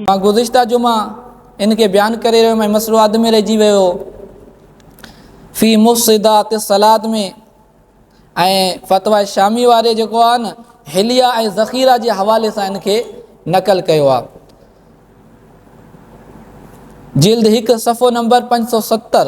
مان گذشته جمعه ان کي بيان ڪري رهيو هيم ۽ مسئلو اڌ ۾ رهجي ويو هو في مفسدات الصلات ۾ ۽ فتويٰ شامي واري جيڪو آهي نه حليه ۽ ذخيره جي حوالي سان ان کي نقل ڪيو آهي جلد هڪ صفحو نمبر پنج سؤ ستر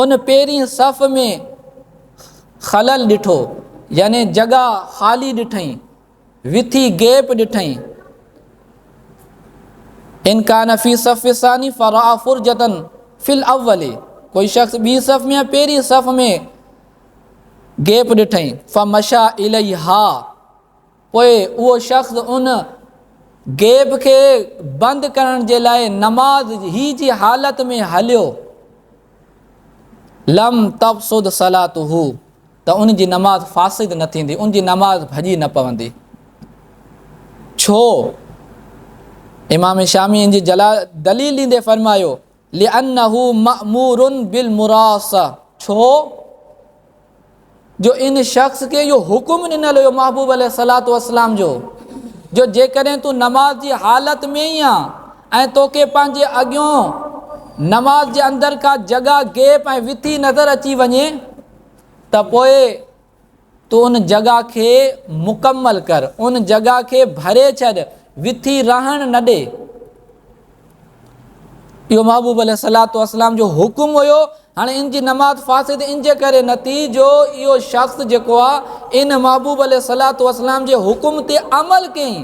ان پهرين صف ۾ خلل ڏٺو يعني جڳا خالي ڏٺئين وٿي گيپ ڏٺئين ان کان في صف ثاني فرا فرجتن في الاول ڪوئي شخص ٻي صف ۾ پهرين صف ۾ گيپ ڏٺئين فمشا اليها پوء اهو شخص ان گيپ کي بند ڪرڻ جي لاء نماز هي جي حالت ۾ هليو لم تفسد صلاته ته ان جي نماز فاسد نه ٿيندي ان جي نماز ڀڄي نه پوندي ڇو امام شامي ان جي جلال دليل ڏيندي فرمايو لانه مامور بالمراصه، ڇو جو ان شخص کي اهو حڪم ڏنل هيو محبوب عليه الصلاة والسلام جو جو جيڪڏهن تون نماز جي حالت ۾ ئي آن ۽ توکي پنهنجي اڳيون نماز جي اندر ڪا جڳهه، گيپ ۽ وٿي نظر اچي وڃي ته پوء تون ان جڳهه کي مڪمل ڪر، ان جڳهه کي ڀري ڇڏ، وٿي رهڻ نه ڏي. اهو محبوب عليه الصلاة والسلام جو حڪم هيو. هاڻي ان جي نماز فاسد ان جي ڪري نه ٿي جو اهو شخص جيڪو آ ان محبوب عليه الصلاة والسلام جي حڪم تي عمل ڪيئي،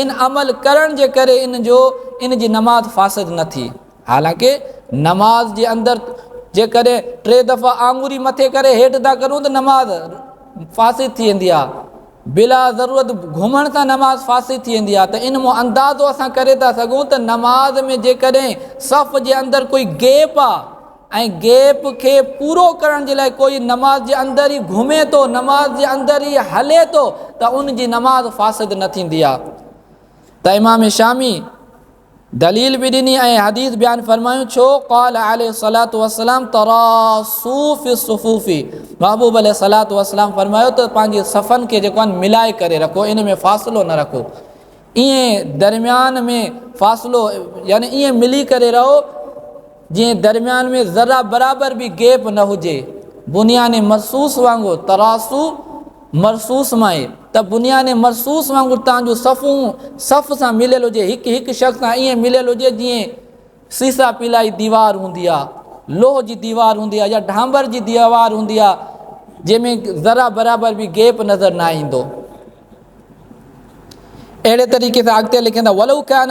ان عمل ڪرڻ جي ڪري ان جو ان جي نماز فاسد نه ٿي. حالانڪه نماز جي اندر جيڪڏهن ٽي دفعا آڱري مٿي ڪري هيٺ ٿا ڪرون ته نماز فاسد ٿي ويندي آ بلا ضرورت گهمڻ سان نماز فاسد ٿي ويندي آ ته ان مون اندازو اسان ڪري ٿا سگهون ته نماز ۾ جيڪڏهن صف جي اندر ڪوئي گيپ آ ۽ گيپ کي پورو ڪرڻ جي لاء ڪوئي نماز جي اندر ئي گهمي ٿو نماز جي اندر ئي هلي ٿو ته ان جي نماز فاسد نه ٿيندي آ ته امام شامي دليل به ڏني ۽ حديث بيان فرمايون ڇو قال عليه الصلاه والسلام تراصو في الصفوف محبوب عليه الصلاه والسلام فرمايو ته پنهنجي صفن کي جيڪو آهن ملائي ڪري رکو ان ۾ فاصلو نه رکو ائين درميان ۾ فاصلو يعني ائين ملي ڪري رهو جنهن درميان ۾ ذره برابر به گيپ نه هجي، بنيان مرصوص وانگر تراصو مرصوص مائي ته بنيان مرصوص وانگر تان جو صفحون صف سان مليل هجي هڪ هڪ شخص سان ائين مليل هجي جيئن سيسا پيلائي ديوار هوندي آ لوهه جي ديوار هوندي آ يا ڍانڀر جي ديوار هوندي آ جنهن ۾ ذره برابر به گيپ نظر نه ايندو اهڙي طريقي سان اڳتي لکين ٿا ولو ڪان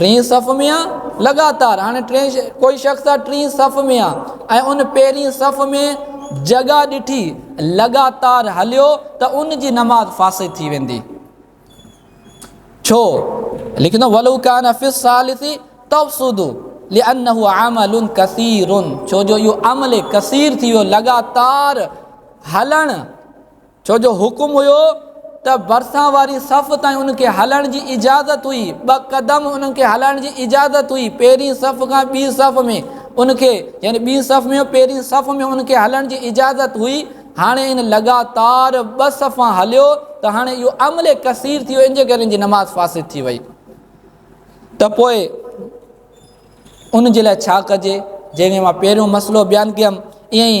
ٽئين صف ۾ آ لڳاتار هاڻي ٽئين ڪوئي شخص آ ٽئين صف ۾ آ ۽ ان پهرين صف ۾ جڳا ڏٺي لڳاتار هليو ته ان جي نماز فاسد ٿي ويندي ڇو لکندو ولو کان في الثالث تفسد لانه عمل كثير ڇو جو اهو عمل ڪثير ٿي ويو لڳاتار هلڻ ڇو جو حڪم هيو ته ڀرسان واري صف تائين انهن کي هلڻ جي اجازت هئي، ٻه قدم انهن کي هلائڻ جي اجازت هئي، پهرين صف کان ٻي صف ۾ انهن کي يعني ٻي صف ۾ پهرين صف ۾ انهن کي هلڻ جي اجازت هئي، هاڻي ان لڳاتار ٻه صفا هليو ته هاڻي اهو عمل ڪثير ٿي ويو ان جي ڪري ان جي نماز فاسد ٿي وئي ته پوء ان جي لاء ڇا ڪجي جنهن ۾ مان پهريون مسئلو بيان ڪيم ائين ئي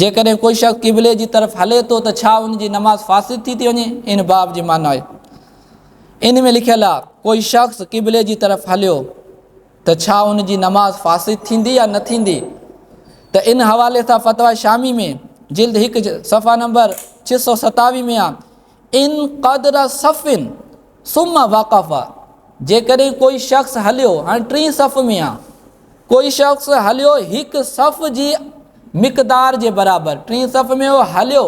جيڪڏهن ڪو شخص قبلي جي طرف هلي ٿو ته ڇا ان جي نماز فاسد ٿي ٿي وڃي؟ ان باب جي معنيٰ آهي. ان ۾ لکيل آهي، ڪو شخص قبلي جي طرف هليو ته ڇا ان جي نماز فاسد ٿيندي يا نه ٿيندي؟ ته ان حوالي سان فتويٰ شامي ۾ جلد هڪ صفحه نمبر ڇهه سؤ ستاويهه ۾ آهي ان قدر صف ثم وقف جيڪڏهن ڪوئي شخص هليو هاڻي ٽين صف ۾ آ ڪوئي شخص هليو هڪ صف جي مقدار جي برابر ٽين صف ۾ هو هليو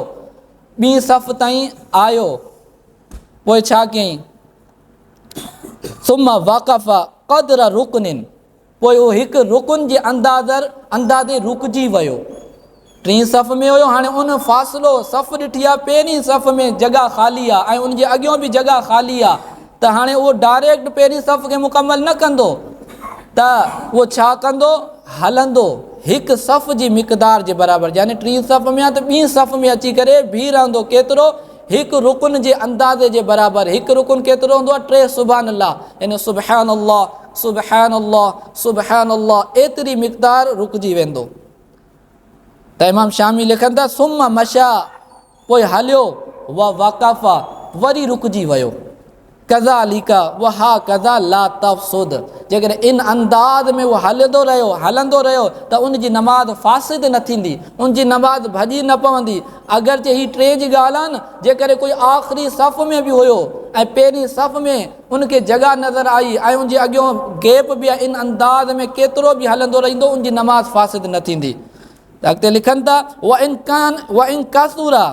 ٻين صف تائين آيو پوء ڇا ڪيائين ثم وقف قدر رڪن پوء اهو هڪ رڪن جي اندازر اندازي رڪجي ويو. ٽين صف ۾ هيو هاڻي ان فاصلو صف ڏٺي آ پهرين صف ۾ جڳهه خالي آ ۽ ان جي اڳيون به جڳهه خالي آ ته هاڻي اهو ڊائريڪٽ پهرين صف کي مڪمل نه ڪندو ته اهو ڇا ڪندو هلندو هڪ صف جي مقدار جي برابر يعني ٽين صف ۾ آ ته ٻين صف ۾ اچي ڪري بيهي رهندو ڪيترو هڪ رڪن جي اندازي جي برابر هڪ رڪن ڪيترو هوندو آ ٽي سبحان الله يعني سبحان الله سبحان الله سبحان الله ايتري مقدار رڪجي ويندو ته امام شامي لکن ٿا ثم مشا پوء هليو و وقف وري رڪجي ويو کذا ليکا وها کذا لا تفسد جيڪڏهن ان انداز ۾ هو هلندو رهيو هلندو رهيو ته ان جي نماز فاسد نه ٿيندي ان جي نماز ڀڄي نه پوندي اگرچه هي ٽي جي ڳالهه آهي نه جيڪڏهن ڪوئي آخري صف ۾ به هيو ۽ پهرين صف ۾ ان کي جڳهه نظر آئي ۽ ان جي اڳيون گيپ به ان انداز ۾ ڪيترو به هلندو رهندو ان جي نماز فاسد نه ٿيندي ته اڳتي لکن ٿا وان کان وان کاثورا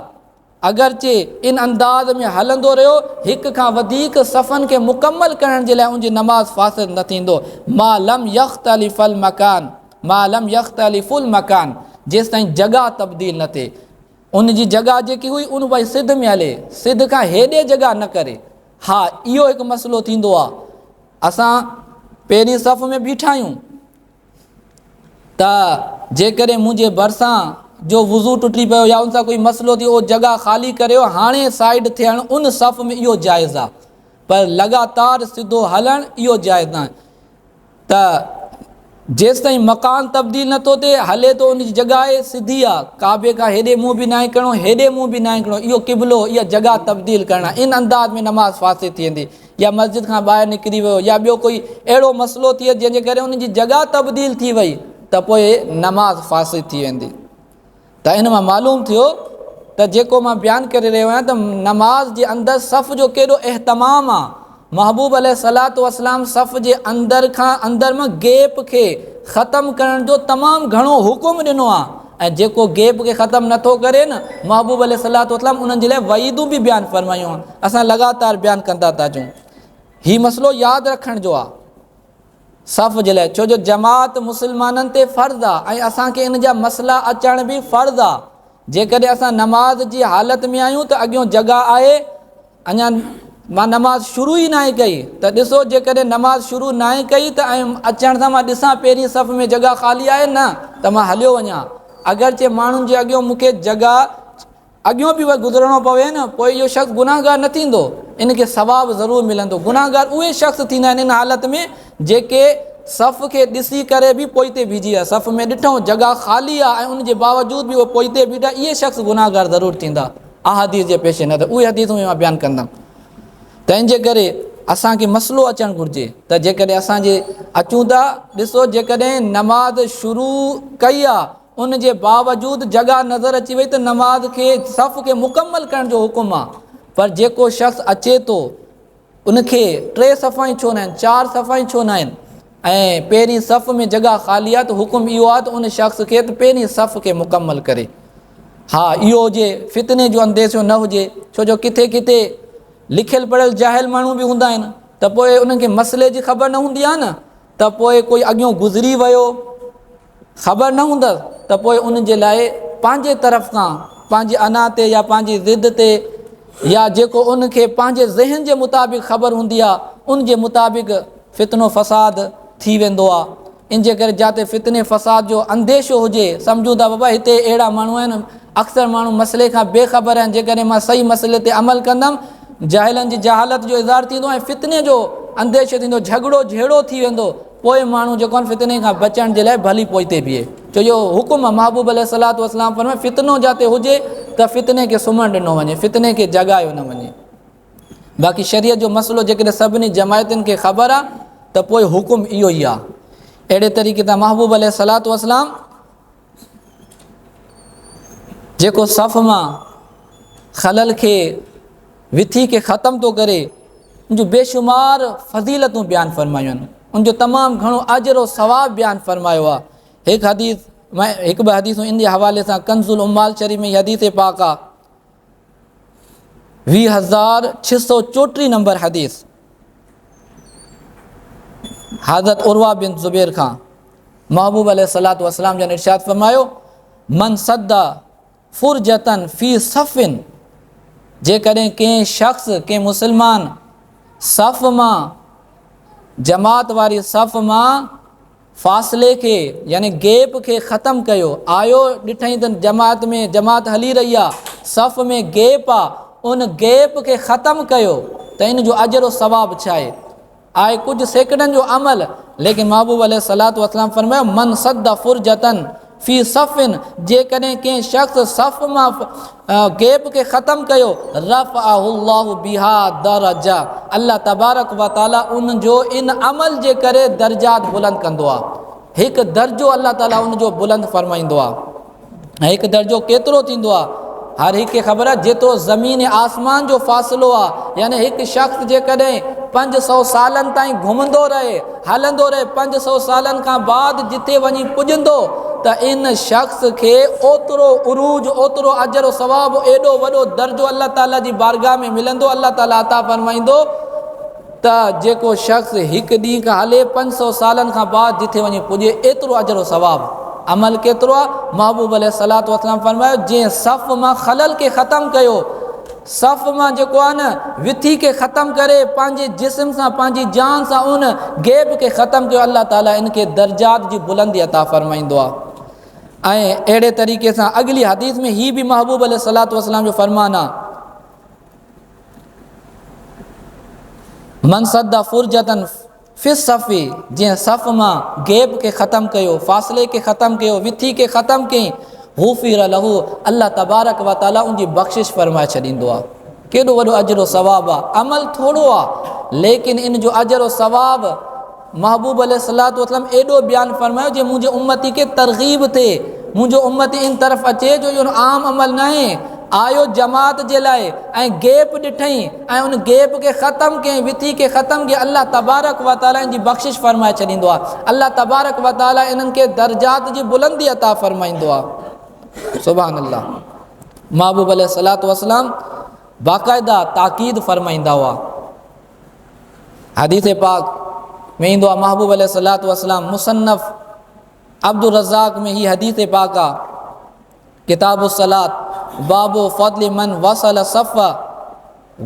اگرچه ان انداز ۾ هلندو رهيو هڪ کان وڌيڪ صفن کي مڪمل ڪرڻ جي لاء ان جي نماز فاسد نه ٿيندو ما لم يختلف المکان ما لم يختلف المکان جيستائين جڳا تبديل نه ٿي ان جي جڳا جيڪي هئي ان وئي سڌ ۾ هلي سڌ کان هيڏي جڳا نه ڪري ها اهو هڪ مسئلو ٿيندو آ اسان پهرين صف ۾ بيٺا آهيون ته جيڪڏهن منهنجي ڀرسان جو وضو ٽٽي پيو يا ان سان ڪوئي مسئلو ٿيو اهو جڳا خالي ڪريو هاڻي سائيڊ ٿيڻ ان صف ۾ اهو جائز آ پر لڳاتار سڌو هلڻ اهو جائز ناهي ته جيستائين مڪان تبديل نه ٿو ٿئي هلي ٿو ان جي جڳهه سڌي آ ڪعبي کان هيڏي منهن به ناهي ڪرڻو هيڏي منهن به ناهي ڪرڻو اهو قبلو اها جڳهه تبديل ڪرڻا ان انداز ۾ نماز فاسد ٿي ويندي يا مسجد کان ٻاهر نڪري ويو يا ٻيو ڪوئي اهڙو مسئلو ٿئي جنهن جي ڪري ان جي جڳهه تبديل ٿي وئي ته پوء نماز فاسد ٿي ويندي ته ان مان معلوم ٿيو ته جيڪو مان بيان ڪري رهيو آهيان ته نماز جي اندر صف جو ڪيڏو اهتمام آهي. محبوب عليه الصلوة والسلام صف جي اندر کان اندر مان گيپ کي ختم ڪرڻ جو تمام گهڻو حڪم ڏنو آهي ۽ جيڪو گيپ کي ختم نه ٿو ڪري نه محبوب عليه الصلوة والسلام انهن جي لاء وعيدون به بيان فرمايون آهن. اسان لڳاتار بيان ڪندا ٿا اچون. هي مسئلو ياد رکڻ جو آهي. صف جي لاء ڇو جو جماعت مسلمانن تي فرض آ ۽ اسان کي ان جا مسئلا اچڻ به فرض آ جيڪڏهن اسان نماز جي حالت ۾ آهيون ته اڳيون جڳهه آهي اڃا مان نماز شروع ئي ناهي ڪئي ته ڏسو جيڪڏهن نماز شروع ناهي ڪئي ته ۽ اچڻ سان مان ڏسان پهرين صف ۾ جڳهه خالي آهي نه ته مان هليو وڃان اگرچه ماڻهن جي اڳيون مون کي جڳهه اڳيون به گذرڻو پوي نه پوء اهو شخص گناهگار نه ٿيندو ان کي ثواب ضرور ملندو گناهگار اهي شخص ٿيندا آهن ان حالت ۾ جيڪي صف کي ڏسي ڪري به پوئتي بيهجي ويا صف ۾ ڏٺو جڳا خالي آ ۽ ان جي باوجود به اهي پوئتي بيٺا اهي شخص گناهگار ضرور ٿيندا احاديث جي پيش نظر اهي حديثون مان بيان ڪندم تنهن جي ڪري اسان کي مسئلو اچڻ گهرجي ته جيڪڏهن اسان جي اچون ٿا ڏسو جيڪڏهن نماز شروع ڪئي آ ان جي باوجود جڳهه نظر اچي وئي ته نماز کي صف کي مڪمل ڪرڻ جو حڪم آ پر جيڪو شخص اچي ٿو ان کي ٽي صفا ئي ڇو نه آهن چار صفا ئي ڇو نه آهن ۽ پهرين صف ۾ جڳهه خالي آ ته حڪم اهو آ ته ان شخص کي ته پهرين صف کي مڪمل ڪري ها اهو هجي فتني جو انديشو نه هجي ڇو جو ڪٿي ڪٿي لکيل پڙهيل جاهل ماڻهو به هوندا آهن ته پوء انهن کي مسئلي جي خبر نه هوندي آ نه ته پوء ڪوئي اڳيون گذري ويو خبر نه هوندس ته پوء ان جي لاء پنهنجي طرف کان پنهنجي انا تي يا پنهنجي ضد تي يا جيڪو ان کي پنهنجي ذهن جي مطابق خبر هوندي آ ان جي مطابق فتنو فساد ٿي ويندو آ انجي ڪري جاتي فتني فساد جو انديشو هجي سمجهون ته بابا هتي اهڙا ماڻهو آهن اڪثر ماڻهو مسئلي کان بي خبر آهن جيڪڏهن مان صحيح مسئلي تي عمل ڪندم جاهلن جي جهالت جو اظهار ٿيندو ۽ فتني جو انديشو ٿيندو جهڳڙو جهيڙو ٿي ويندو پوء ماڻهو جيڪو آهن فتني کان بچڻ جي لاء ڀلي پوئتي بيهي، ڇو جو حڪم محبوب عليه الصلوة والسلام فرمايو فتنو جاتي هجي ته فتني کي سمهڻ ڏنو وڃي، فتني کي جڳايو نه وڃي. باقي شريعت جو مسئلو جيڪڏهن سڀني جماعتن کي خبر آهي ته پوء حڪم اهو ئي آهي. اهڙي طريقي تان محبوب عليه الصلوة والسلام جيڪو صف مان خلل کي وٿي کي ختم ٿو ڪري ان جو بيشمار فضيلتون بيان فرمايون آهن ان جو تمام گھڻو اجر او ثواب بيان فرمايو آ هڪ حديث هڪ به حديث ان جي حوالي سان کنزل امال شريف ۾ حديث پاڪ آ ويهه هزار ڇهه سؤ چوٽيهه نمبر حديث حضرت عروا بن زبير کان محبوب عليه الصلاة والسلام جن ارشاد فرمايو من صد فرجتن في صفن جيڪڏهن ڪنهن شخص ڪنهن مسلمان صف مان جماعت واري صف مان فاصلي کي يعني گيپ کي ختم ڪيو. آيو ڏٺئين ته جماعت ۾ جماعت هلي رهي آ، صف ۾ گيپ آ، ان گيپ کي ختم ڪيو ته ان جو اجر و ثواب ڇاهي؟ آهي ڪجهه سيڪنڊن جو عمل ليڪن محبوب عليه الصلوة والسلام فرمايو، من سد فرجة. في صف جيڪڏهن ڪنهن شخص صف مان گيپ کي ختم ڪيو رفعه الله بها درجه الله تبارڪ وتعالي ان جو ان عمل جي ڪري درجات بلند ڪندو آ هڪ درجو الله تعالي ان جو بلند فرمائيندو آ هڪ درجو ڪيترو ٿيندو آ هر هڪ کي خبر آ جيترو زمين آسمان جو فاصلو آ يعني هڪ شخص جيڪڏهن 500 سالن تائين گهمندو رهي هلندو رهي پنج سؤ سالن کان بعد جتي وڃي پڄندو ته ان شخص کي اوترو عروج اوترو اجر و ثواب ايڏو وڏو درجو الله تعالي جي بارگاھ ۾ ملندو الله تعالي عطا فرمائيندو ته جيڪو شخص هڪ ڏينهن کان هلي پنج سؤ سالن کان بعد جتي وڃي پڄي ايترو اجر و ثواب عمل ڪيترو آ محبوب عليه الصلوة والسلام فرمايو جنهن صف مان خلل کي ختم ڪيو صف مان جيڪو آهي نه وٿي کي ختم ڪري پنهنجي جسم سان پنهنجي جان سان ان غيب کي ختم ڪيو الله تعالي ان کي درجات جي بلندي عطا فرمائيندو آهي ۽ اهڙي طريقي سان اڳلي حديث ۾ هي به محبوب عليه الصلوۃ والسلام جو فرمان آهي من صد فرجتن في الصف جنهن صف مان گيپ کي ختم ڪيو، فاصلي کي ختم ڪيو، وٿي کي ختم ڪيئي، غفر له، الله تبارڪ و تعالي ان جي بخشش فرمائي ڇڏيندو آهي. ڪيڏو وڏو اجر و ثواب آهي. عمل ٿورو آهي ليڪن ان جو اجر و ثواب محبوب عليه الصلواة والسلام ايڏو بيان فرمايو جيئن منهنجي امتي کي ترغيب ٿئي، منهنجو امتي ان طرف اچي جو اهو عام عمل ناهي، آيو جماعت جي لاء ۽ گيپ ڏٺئين ۽ ان گيپ کي ختم ڪيائين وٿي کي ختم ڪيائين الله تبارڪ وتعالي ان جي بخشش فرمائي ڇڏيندو آهي الله تبارڪ وتعالي انهن کي درجات جي بلندي عطا فرمائيندو آهي سبحان الله محبوب عليه الصلاة والسلام باقاعده تاڪيد فرمائيندا هئا حديث پاڪ ۾ ايندو آهي محبوب عليه الصلاة والسلام مصنف عبد الرزاق ۾ هي حديث پاڪ آهي ڪتاب الصلات، باب فضل من وصل الصف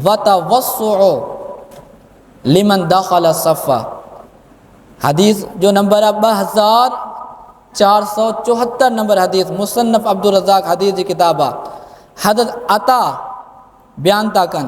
وتوسع لمن دخل الصف حديث جو نمبر آهي ٻه هزار چار سؤ چوهتر نمبر حديث مصنف عبدالرزاق حديث جي ڪتاب آهي حضرت عطا بيان ٿا ڪن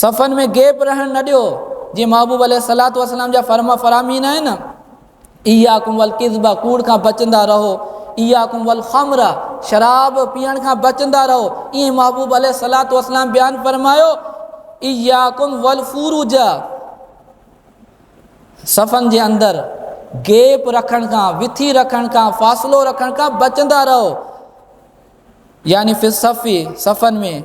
صفن ۾ گيپ رهڻ نه ڏيو، جيئن محبوب عليه الصلوة والسلام جا فرما فرامين آهن، اياڪم والڪذب، ڪوڙ کان بچندا رهو، اياڪم والخمر، شراب پيئڻ کان بچندا رهو، ائين محبوب عليه الصلوة والسلام بيان فرمايو، اياڪم والفروج، صفن جي اندر گيپ رکڻ کان، وٿي رکڻ کان، فاصلو رکڻ کان بچندا رهو. يعني في الصف، صفن ۾،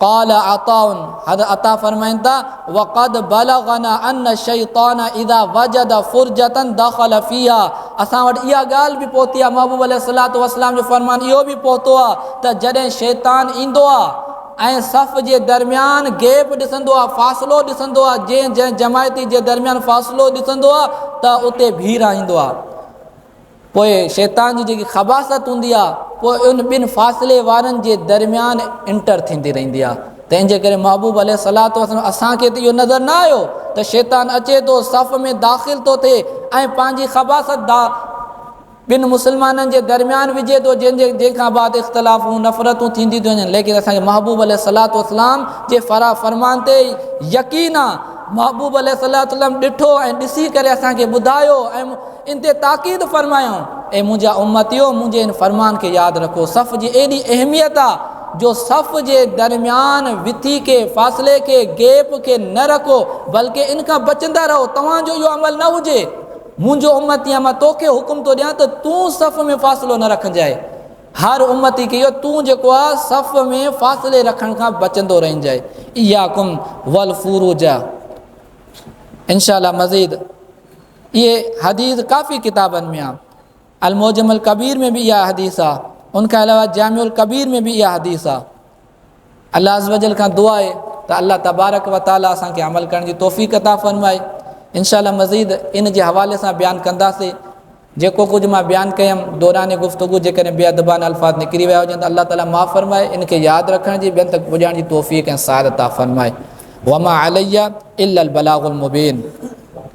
قال عطاء، حضرت عطاء فرمائن ٿا، وقد بلغنا ان الشيطان اذا وجد فرجة دخل فيها، اسان وٽ اها ڳالهه به پهتي آهي، محبوب عليه الصلوة والسلام جو فرمان اهو به پهتو آهي ته جڏهن شيطان ايندو آهي ۽ صف جي درميان گيپ ڏسندو آهي، فاصلو ڏسندو آهي، جنهن جنهن جماعتي جي درميان فاصلو ڏسندو آهي ته اتي ڀيرائيندو آهي. پوء شيطان جي جيڪي خباثت هوندي آهي اها ان ٻن فاصلي وارن جي درميان انٽر ٿيندي رهندي آهي تنهن جي ڪري محبوب عليه الصلوة والسلام اسان کي ته اهو نظر نه آيو ته شيطان اچي ٿو صف ۾ داخل ٿو ٿئي ۽ پنهنجي خباثت دا ٻن مسلمانن جي درميان وجھي ٿو جنهن جي جنهن کان بعد اختلافون نفرتون ٿينديون ٿيون وڃن ليڪن اسان کي محبوب عليه الصلوة والسلام جي فرا فرمان تي يقين آهي محبوب عليه الصلوة والسلام ڏٺو ۽ ڏسي ڪري اسان کي ٻڌايو ۽ ان تي تاڪيد فرمايائون، اي منهنجا امتيؤ! منهنجي ان فرمان کي ياد رکو، صف جي ايڏي اهميت آ جو صف جي درميان وٿي کي، فاصلي کي، Gap، کي نه رکو بلڪه ان کان بچندا رهو، توهان جو اهو عمل نه هجي، منهنجو امتيء مان توکي حڪم ٿو ڏيان ته تون صف ۾ فاصلو نه رکنجانء، هر امتي کي اهو تون جيڪو آ صف ۾ فاصلي رکڻ کان بچندو رهنجانء، اياڪم والفروج. انشاء الله مزيد اهي حديث ڪافي ڪتابن ۾ آهي المعجم الڪبير ۾ به اها حديث آهي ان کان علاوه جامع الڪبير ۾ به اها حديث آهي الله عز وجل کان دعا آهي ته الله تبارک و تعالی اسان کي عمل ڪرڻ جي توفيق عطا فرمائي ان شاء الله مزيد ان جي حوالي سان بيان ڪنداسي جيڪو ڪجھ مان بيان ڪيم دوران گفتگو جيڪڏهن بي ادبان الفاظ نڪري ويا هجن ته الله تعالی معاف فرمائي ان کي ياد رکڻ جي ٻين تک پڄاڻ جي توفيق ۽ سعادت عطا فرمائي وما عليا الا البلاغ المبين